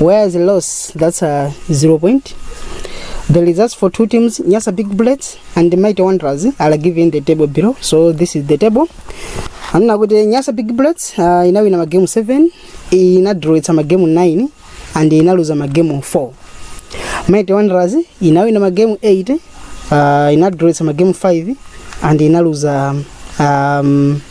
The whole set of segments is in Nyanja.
where is loss that's a zero point the results for two teams nyasa big bullets and the mighty wanderers are given the table below so this is the table anena kuti nyasa big bullets uh, inawina magemu 7 inadrowetsa magemu 9 and inaluza magemu 4 mighty wanderers inawina magemu 8 uh, inadrowetsa magemu 5 and inaluza um,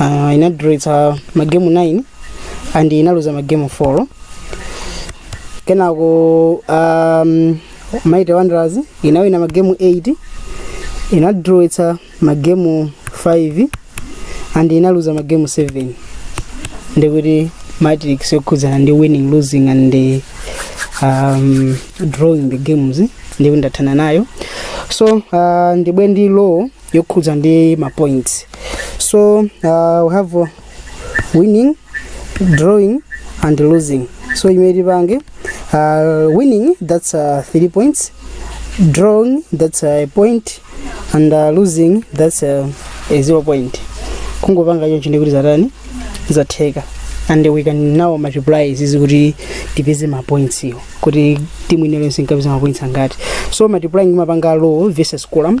uh, inadrowitsa magemu 9 and inaluza magemu 4 kenako um, Mighty Wanderers inawina magemu 8 inadrowitsa magemu 5 and inaluza magemu 7 ndikuti matrix yokhudzana ndi winning losing and the, um, drawing the games ndikuti ndathana nayo so uh, ndibwe ndi row yokhudza ndi ma points so uh, we have uh, winning drawing and losing so imene tipange uh, winning that's uh, three points drawing that's a point and uh, losing that's a, a zero point kungopanga choncho ndikuti zatani zatheka and we can now multiply izizi kuti tipeze ma points iyo kuti timu ina iliyonse inkapeza ma points angati so multiplying timapanga row versus column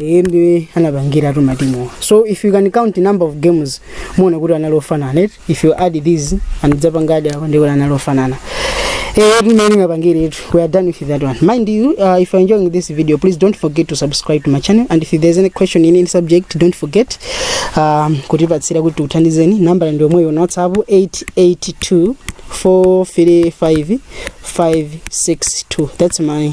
iye ndiye anapangiratu matimuwa so if you can count number of games muona kuti anali ofanana eti if you add these anidzapanga add apo ndikuti anali ofanana Eh, tumene ngapangire itu we are done with that one mind you uh, if you are enjoying this video please don't forget to subscribe to my channel and if there's any question in any subject don't forget um, kutipatsira kuti tikuthandizeni nambala ndi yomweyo na whatsapp 882 435 562 that's my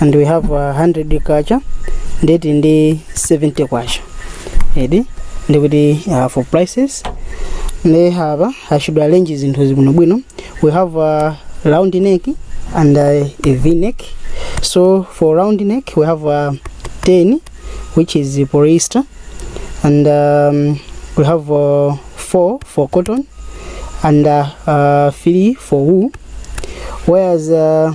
and we have uh, 100 kwacha ndeti ndi 70 kwacha edi ndikuti uh, for prices nde hava i should arrange zinthu zibwinobwino we have uh, round neck and uh, a v neck so for round neck we have uh, 10 which is the polyester and um, we have uh, 4 for cotton and uh, uh, 3 for wool whereas uh,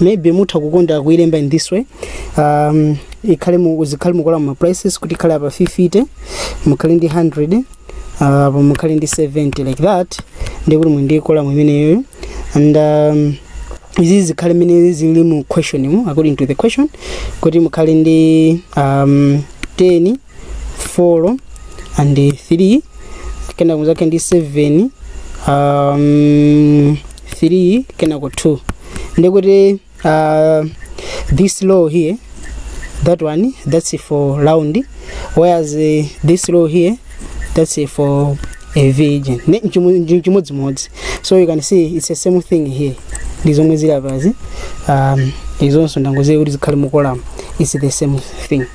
maybe mutha kukonda kuilemba in this way um, ikhale mu- zikhale mukolamo ma prices kuti ikhale apa 50 mukhale ndi 100 uh, apa mukhale ndi 70 like that ndikuti mu ndi kolamo imeneyoyo and um, izi zikhale mmene zili mu question mu according to the question kuti mukhale ndi um, 10 4 and 3 kena kuzake ndi 7 um, 3 kenako 2 ndikuti uh, this row here that one that's for round whereas uh, this row here that's uh, for a virgin Ne- nchimu- nchi- nchimodzimodzi so you can see it's the same thing here ndi zomwe zili apazi um, izonso ndangoziyika kuti zikhale mukolamo it's the same thing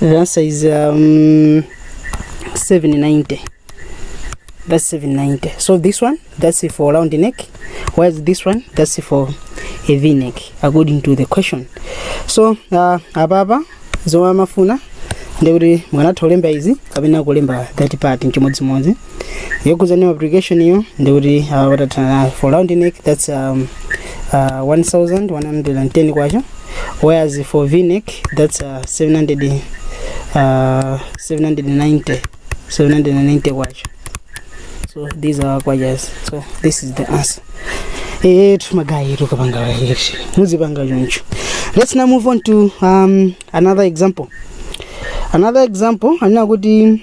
The answer is um, 790. That's 790. So this one, that's for round neck. Whereas this one, that's for a V neck, according to the question. So uh, apapa zomwe amafuna ndikuti mukanatha kulemba izi kapena kulemba that part nchimodzimodzi yokuza new application iyo ndikuti uh, watathana for round neck that's um, uh, 1110 kwacha whereas for v neck that's uh, 700 uh, 790 790 kwacha so these are kwajas so this is the answer eh tumagayi tukapanga election muzipanga choncho let's now move on to um, another example another example anena kuti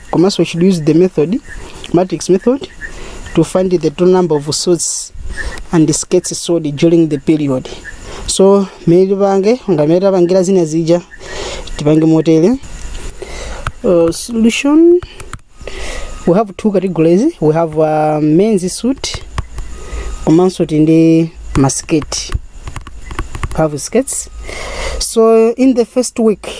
komanso we should use the method matrix method to find the total number of suits and skates sold during the period so mmene tipange ngamene tapangira zina zija tipange motere uh, solution we have two categories we have uh, men's suit komanso tili ndi masketi we have skates so in the first week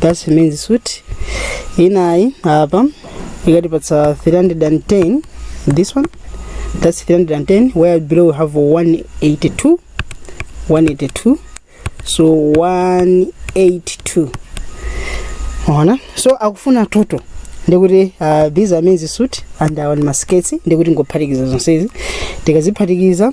that's men's suit inayi apa ikatipatsa 310 this one that's 310 where below we have 182 182 so 182 ona so akufuna total ndikuti uh, these are men's suit and awa ni ma skirts ndikuti tingophatikiza zonsezi tikaziphatikiza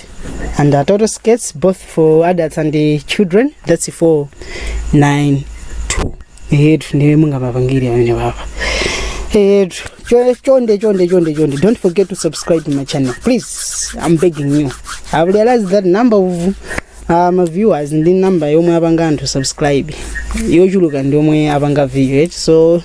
and uh, total skirts both for adults and uh, children that's 492 eti ndiye mungapapangire pamenepapa eti cho- chonde chonde chonde chonde don't forget to subscribe to my channel please i'm begging you i've realized that number of uh, my viewers ndi number yomwe apanga anthu subscribe yochuluka ndi yomwe apanga view right? so